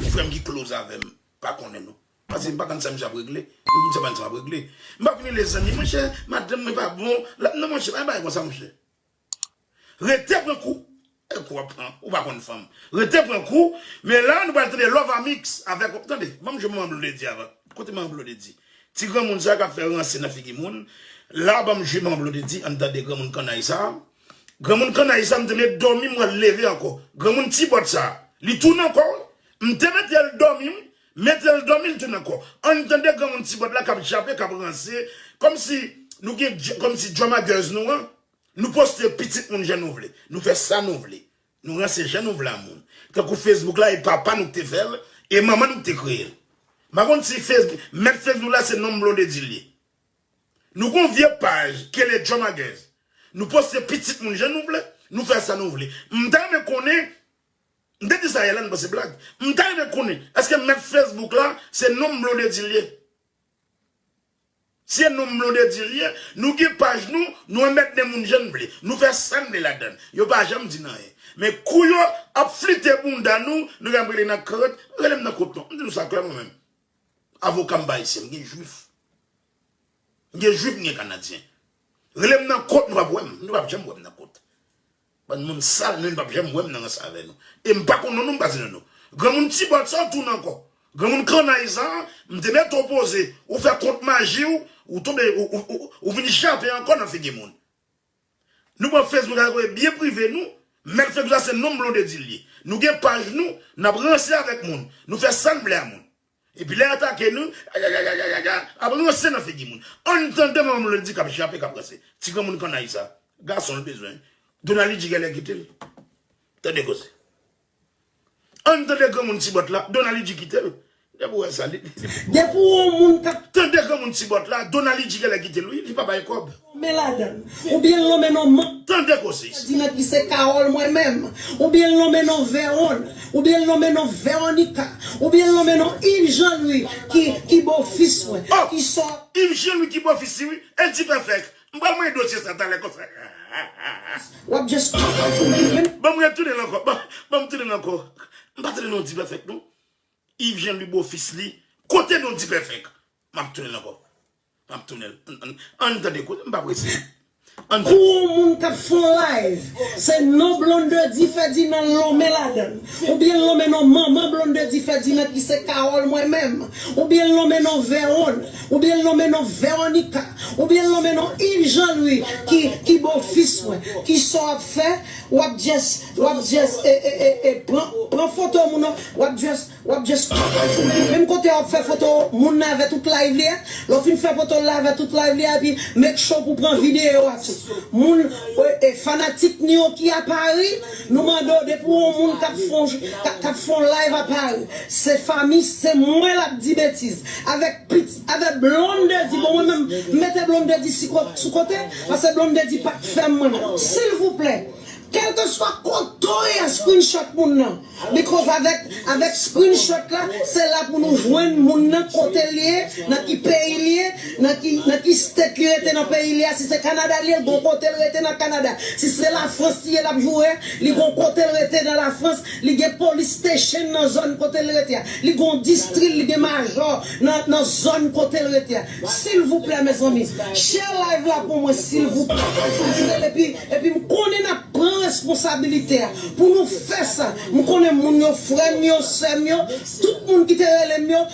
Gen frèm ki close avèm pa konnen nou pase m pa konn sam jap regle m se bann sam ap regle m pap vini le zanmi monchè madanm mwen pa bon lap nan monchè pa gen bagay konsa monchè rete pran kou e kou ap pran ou pa konn fanm rete pran kou men la nou pral tande lovamix avèk tande banm jwenn manman blondedy avan kote manman blondedy ti granmoun sa kap fè ranse nan figi moun la banm jwi manman blondedy ann tande granmoun kannay sa. Granmoun kannay sa m te met dòmi m wè l leve ankò. Granmoun ti bòt sa li tounen ankò wi. M te mete l dòmi wi, mete l dòmi l tounen ankò. Ann tande granmoun ti bòt la k ap jape, k ap ranse kòmsi nou gen kòmsi djòmagèz nou an nou poste pitit moun jan nou vle, nou fè sa nou vle, nou ranse jan nou vle a moun. Tankou fesbouk la e papa nou k te fè l e manman nou k te kreye l. M pa konn si mèt fesbouk la se nonm Blondedy l ye. Nou gon vye paj kele djomagèz nou poste pitit moun jan nou vle nou fè sa nou vle m ta renmen konnen m te di sa yè la nou panse blag m ta renmen konnen eske mèt facebook la se nom blondedy liye si e nom blondedy liye nou gen paj nou nou anmèdne moun jan n vle nou fè sa n vle ladann yo pa janm di n anyen men kou yo ap flite bounda nou nou gen ap rele nan krnt rele m nan kot non m di nou sa klèman menm Avoka m pa ayisyen, m gen jwif. M gen jwif, m gen kanadyen. Rele m nan kot, nou pap wè m. Nou pap janm wè m nan kot. Bann moun sal, nou pap janm wè m nan rans avè nou. E m pa konn non nou, m pa di non nou. Granmoun Tibòt sa w tounen ankò. Granmoun kannay sa a, m te mete w poze, ou fè kont maji w, ou tonbe, ou vin jape ankò nan figi moun. Nou pran Facebook ak kote byen prive nou, mèt Facebook la se nonm Blondedy l ye. Nou gen paj nou, n ap ranse avèk moun, nou fè sa n vle a moun. Epi lè y atake nou, yayayayayaya, ap ranse nan figi moun. Ann tande manman Blondedy k ap jape, k ap ranse. Ti granmoun kannay sa, gason l bezwen, Donali di genlè kite l. Tande koze. Ann tande granmoun ti bòt la, Donaly di kitel. Depi ou wè sa li. Depi ou wè yon moun kap. Tande granmoun ti bòt la, Donaly di genlè kitel wi, li pa bay kòb. Lonmen ladann. Oubyen l lonmen non manman. Tande koze isit. Fèdinand epi se Carole mwen menm. Oubyen l lonmen non Veron. Oubyen l lonmen non Veronica. Oubyen l lonmen non Yves Jean Louis ki bofis mwen. Ki sò. Oh! Yves Jean Louis ki bofis li wi, el di pèfèk. M pral manyen dosye sa talè konsa hahahaha. Banm retounen l ankò banm tounen l ankò m pa tande non dipèfèk non Yves jean louis bofis li kote non dipèfèk map tounen l ankò map tounen l ann tande kote m pa prese ann Pou on moun kap fè on live se non blondedy ferdinand l lonmen ladann ou byen l lonmen non manman blondedy ferdinand ki se carole mwen menm ou byen l lonmen non veronne Ou byen l nonmen non Veronica. Ou byen l nonmen non Yves Jean Louis ki ki bo fis mwen. Kisa w ap fè? W ap just w ap just e e e e pran pran foto moun nan w ap just w ap just menm kote w ap fè foto moun nan avè tout live li a lè w fin fè foto l la avè tout live li a epi make sure pou w pran videyo ak moun e fanatik Nioki a Paris. Nou mande w depi w wè yon moun kap fon kap fon live a pari se fami se mwen lap di betiz avèk pitit avèk blondedy bon mwen menm m mete blondedy sou kote pase blondedy pa k fèm mwen menm silvouplè kèlkeswa kote w ye screenshot moun nan bikòz avèk avèk screenshot la se la pou nou jwenn moun nan kote l ye nan ki peyi l ye Nan ki nan ki state li rete nan peyi li a si se Canada li ye li gon kotel rete nan Canada si se la France li ye lap joure li gon kotel rete nan la France li gen police station nan zone kotel rete a li gon distril li gen majò nan nan zone kotel rete a silvouplè mezanmi share live la pou mwen silvouplè silvouplè epi epi m konnen nap pran responsabilité a pou nou fè sa m konnen moun yo frèm yo sèm yo tout moun ki te relem yo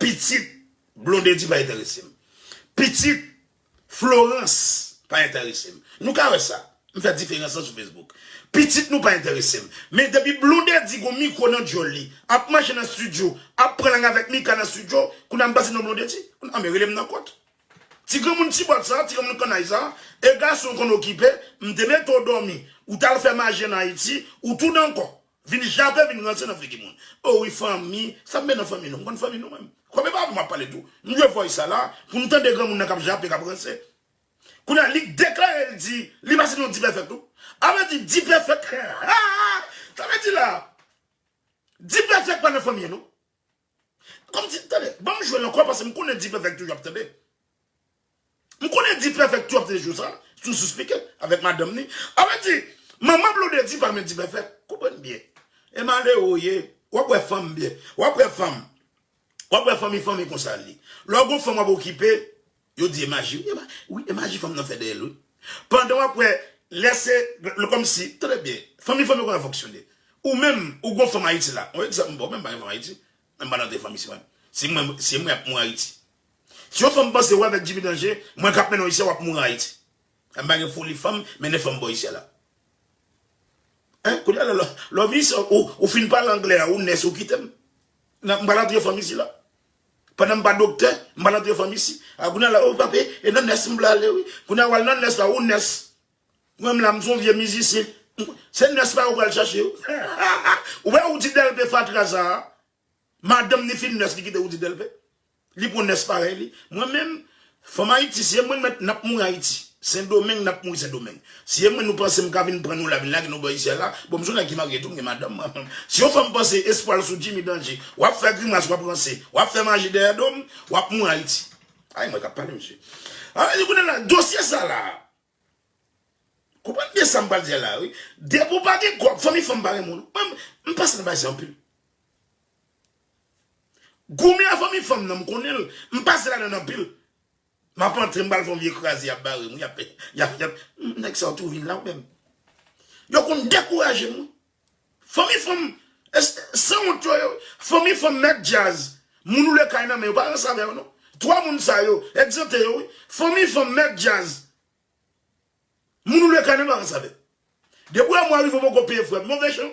Pitit Blondedy pa enterese m. Pitit Florence pa enterese m. Nou ka wè sa. M fè diferans lan sou Facebook. Pitit nou pa enterese m. Men depi Blondedy gon mikwo nan dyòl li, ap mache nan studio, ap pran lang avèk Mika nan studio, kounye a m pase non Blondedy. Kounye a men rele m nan kont. Ti granmoun ti bòt sa, ti granmoun kannay sa, e gason w konn okipe, m te mete w dòmi, ou t al fè maje an Ayiti, ou tou dan kò. Vin jape vin ranse nan figi moun. O wi fanmi, sa m be nan fanmi nou? M konn fanmi nou menm? Kòm e pa avè m w ap pale tou, m jwe vòy sa la pou n tande granmoun nan k ap jape, k ap ranse. Kounye a, li deklare l di li pase nan dipèfèt tou. A vle di dipèfèt, sa vle di la, dipèfèt pa nan fanmi an non. Kom si, tande, banm jwe l ankò paske m konnen D-Perfect toujou ap tande. M konnen D-Perfect toujou ap tande jou sa, sou Souspike, avèk madanm ni. A vle di, manman Blondedy pa renmen D-Perfect. Konprann byen. E malere w ye, w ap wè fanm byen. W ap wè fanm. W ap wè fanmi fanmi konsa l ye. Lè w gen yon fanm w ap okipe, Yo di e maji wi e ma wi e maji fanm nan fè dèyèl wi pandan wap wè lè se lè kòmsi tande byen fanmi fanmi koman fonksyone ou menm ou gon fanm ayiti la on egzanp bon menm pa gen fanm ayiti menm pa nan de fanmi si mwen si mwen si mwen ap mouri ayiti si yon fanm panse wè avèk djimi danje mwen kap menn ou ayisyen wap mouri ayiti m pa gen foli fanm mennen fanm bò isyè la hein kounye a lè lè w vini ici ou fin pale anglè a ou nès ou kitem m pral antre fanm ici la. Pandan m pa doktè, m pral antre famisi. A Gounal la, o papi, e nan nès m vle ale wi. Gounal wal nan nès la, ou nès. Mwen m la, m son vye mizisyen. Se nès pa yo pral chache yo. Ou wè Roody Delpé fatra sa a, madanm ni fin nès li kite Roody Delpé. Li pran nès parèy li. Mwen menm, Fanm ayiti si e mwen mèt nap mouri ayiti sendomeng nap mouri sendomeng si e mwen nou panse m ka vin pran nou la vin lage nou bò isyèl la bon m son nèg ki marye tou m gen madanm mwen si yon fanm panse espwal sou jimmy danje wap fè grimas wap ranse wap fè maji dèyè dom wap mouri ayiti ay mwen kap pale mesye dosye sa la. Konprann byen sam pral di a la wi. Depi w pa gen gòl, fanmi fanm pa renmen w non. Mwen m pase nan bagay sa anpil. Goumen a fanmi fanm nan m konnen l. M pase ladann anpil. M ap antre m pral fè yon vye kraze y ap bare m wi. Nèg sa yo tou vin la ou menm. Yo konn dekouraje m wi. Fanmi fanm sanwont yo yo fanmi fanm mèt djaz moun oule kay nan men yo pa ranse avè yo non 3 moun sa yo egzante yo wi fanmi fanm mèt djaz moun oule kay nan men pa ranse avè depi wè mwen rive ou poko peye frèm move jan.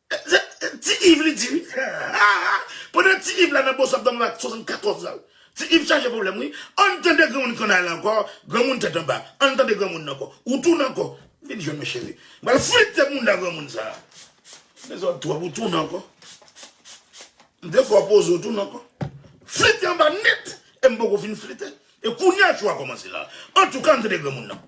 Se ti iv li di wi. Pandan ti iv la nan bon septanm la 74 la. Ti iv chaje pwoblèm wi. Ann tande granmoun kannay la ankò, granmoun tèt anba. Ann tande granmoun nan ankò. Ou tounen ankò. Vin jwenn mwen cheri. M pral flite mounda granmoun sa a. Dezòd twòp ou tounen ankò. M te fè w poze ou tounen ankò. Flite anba nèt e m poko fin flite. E kounye a cho a kòmanse la. Antouka ann tande granmoun nan.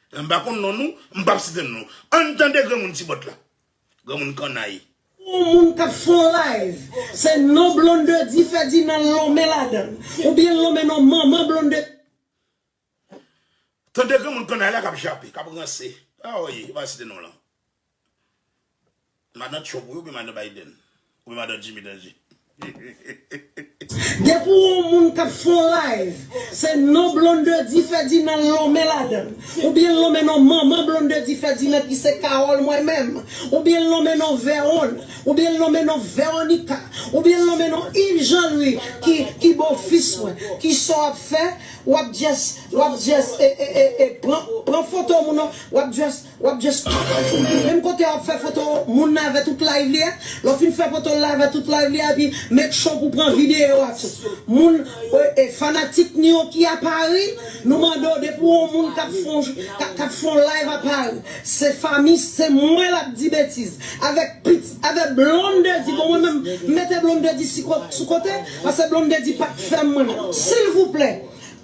M pa konn non nou, m pap site non nou. Ann tande granmoun ti bòt la. Granmoun kannay. Yon moun k ap fè yon live, se non Blondedy Ferdinand l lonmen ladan l. Oubyen l lonmen non manman Blondedy. Tande granmoun kannay la k ap jape, k ap ranse. Awoy, m pa site non w lan. Madan trump wi oubyen madan Biden oubyen madan Jimmy danje hehehehe. Depi w on moun kap fè on live se non blondedy ferdinand l lonmen ladan l oubyen l lonmen non manman blondedy ferdinand ki se carole mwen menm oubyen l lonmen non veron oubyen l lonmen non veronica oubyen l lonmen non yves jean louis ki ki bo fis mwen kisa w ap fè w ap just w ap just e e e pran pran foto moun w ap just Wap just Menm kote wap fè foto moun nan avè tout live li a lè w fin fè foto l avè tout live li a epi make sure pou w pran video a tou moun e fanatik nou yo ki a Pari nou mande w depi w wè yon moun kap fè yon kap fè yon live a Pari se fami se mwen lap di betiz avèk pit avè Blondedy bon mwen menm m mete Blondedy sou kote pase Blondedy pap k fè m mwen menm silvouplè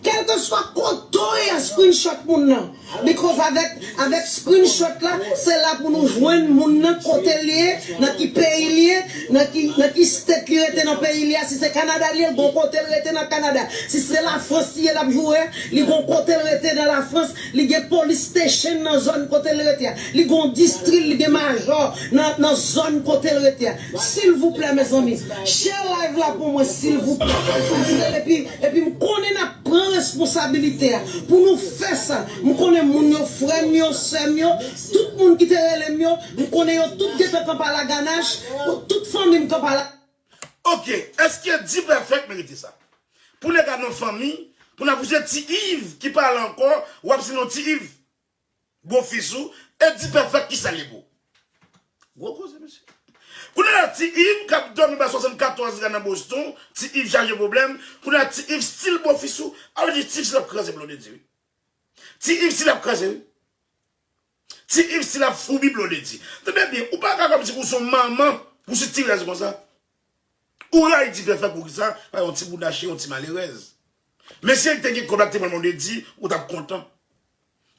Kelkeswa kote w ye screenshot moun nan because avèk avèk screenshot la se la pou nou jwenn moun nan kote l ye nan ki peyi l ye nan ki nan ki state li rete nan peyi li a si se Canada li ye l gon kote l rete nan Canada si se la France li ye l ap joure a li gon kote l rete nan la France li gen police station nan zòn kote l rete a li gon distri li gen majò nan nan zòn kote l rete a. Silvouplè mezanmi share live la pou mwen silvouplè paskel epi epi m konnen nap pran responsabilite a pou nou fè sa m konnen moun yo frèm yo sèm yo tout moun ki te relem yo m konnen yo tout gentan kanpala ganach tout fanmim kanpala. Ok eske dprfect merite sa pou nèg a nan fanmi pou nap use ti Yves ki pa la ankò wap se non ti Yves. Gwo fis ou e di pèfèk kisa li pou. Gwo koze mesye. Kounye la ti iv kap domi ba 74 la nan boston ti iv chaje pwoblèm kounye la ti iv stil bo fis ou a vle di ti iv stil ap kraze blondedy wi ti iv stil ap kraze wi ti iv stil ap foubi blondedy tande byen ou paka kòmsi ou son manman pou sitirèz konsa Ou rayi ti pèfè poukisa pa yon ti bouda cheri yon ti malerèz men si el te gen kob la te pran blondedy ou tap kontan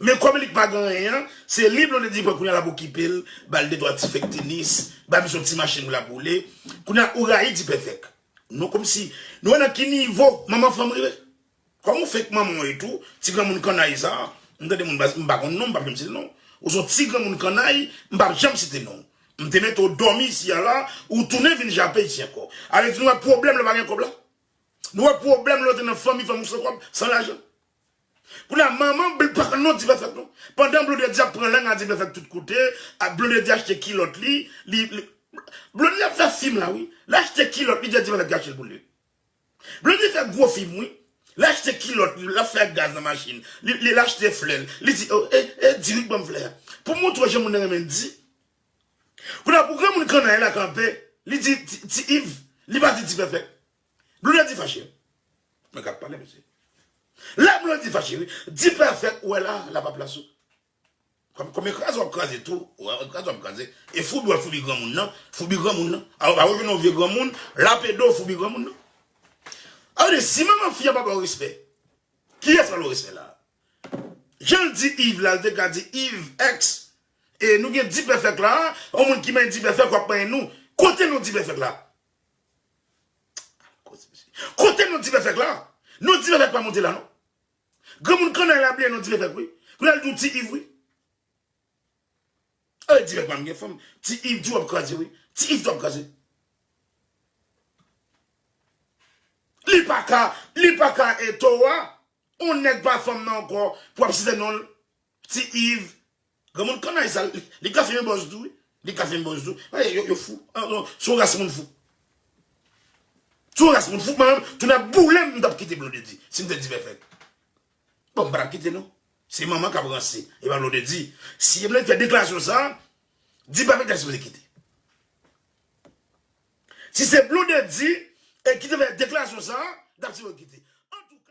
men kòm li k pa gen anyen an se li blondedy pran kounya lap okipel bal de twa ti fek tenis ba misye yon ti machin pou lap woule kounya ou rayi ti pèfèk nou komsi nou wè nan ki nivo manman fanm rive. Kòm ou fake manman w etou, ti granmoun kannay sa a, m tande moun baz, m pa konn non w, m pap janm site non w. Ou son ti granmoun kannay, m pap janm site non w. M te mete w dòmi isi a la, ou tounen vin jape isi ankò. Ale di nou wè pwoblèm lè w pa gen kòb la? Nou wè pwoblèm lè w te nan fanmi, fanmi w san kòb, san lajan? Kounye a manman bl pa konn non w di pèfèk non. Pandan blonde di ap pran lang a di pèfèk tout kote, a blonde di achte kilòt li, li, li, blonde ap fè fim la wi, l achte kilòt li di a di pèfèk kache l pou li. Blondedy fè gwo fim wi. Li achte kilòt li, lap fè ak gaz nan machin li, li achte flè l, li di oh eh eh di wi k banm flè a pou m montre w jan moun nan renmen di. Kounye a pou granmoun kannay la kanpe li di ti iv, li pa di ti pèpè. Blondedy fache. Mwen kap pale mesye. La Blondedy fache wi. Di pèfèk ou wè la, la pa plas ou. Konbyen kraze wap kraze tou wap kraze wap kraze e foubi wap foubi granmoun nan foubi granmoun nan aw pa wè gen yon vye granmoun lape do foubi granmoun nan a vle di si manman fi a pa baw respè kiyès pral baw respè la janl di Yves la li te ka di Yves ex e nou gen dipèfèk la yon moun ki manyen dipèfèk wap manyen nou kote nou dipèfèk la kote nou dipèfèk la nou dipèfèk pa monte la non. Granmoun kannay la bliye non ti levèk wi. Kounye a li di w ti iv wi. Ey ti levèk pa m gen fanm. Ti iv di w ap kraze wi. Ti iv di w ap kraze. Li pa ka, li pa ka e towa. On nèg pa fanm nan ankò pou ap site non l. Ti Yves granmoun kannay sa li ka fin yon bòs tou wi li ka fin yon bòs tou gade yo yo fou an non son ras moun fou son ras moun fou mwen menm tou nan boule m tap kite blondedy si m te divèfèt bon m pa tap kite non se manman kap ranse e pa blondedy si blondedy fè deklarasyon sa di pa peter sipoze kite si se blondedy e ki te fè deklarasyon sa dap sipoze kite antouka.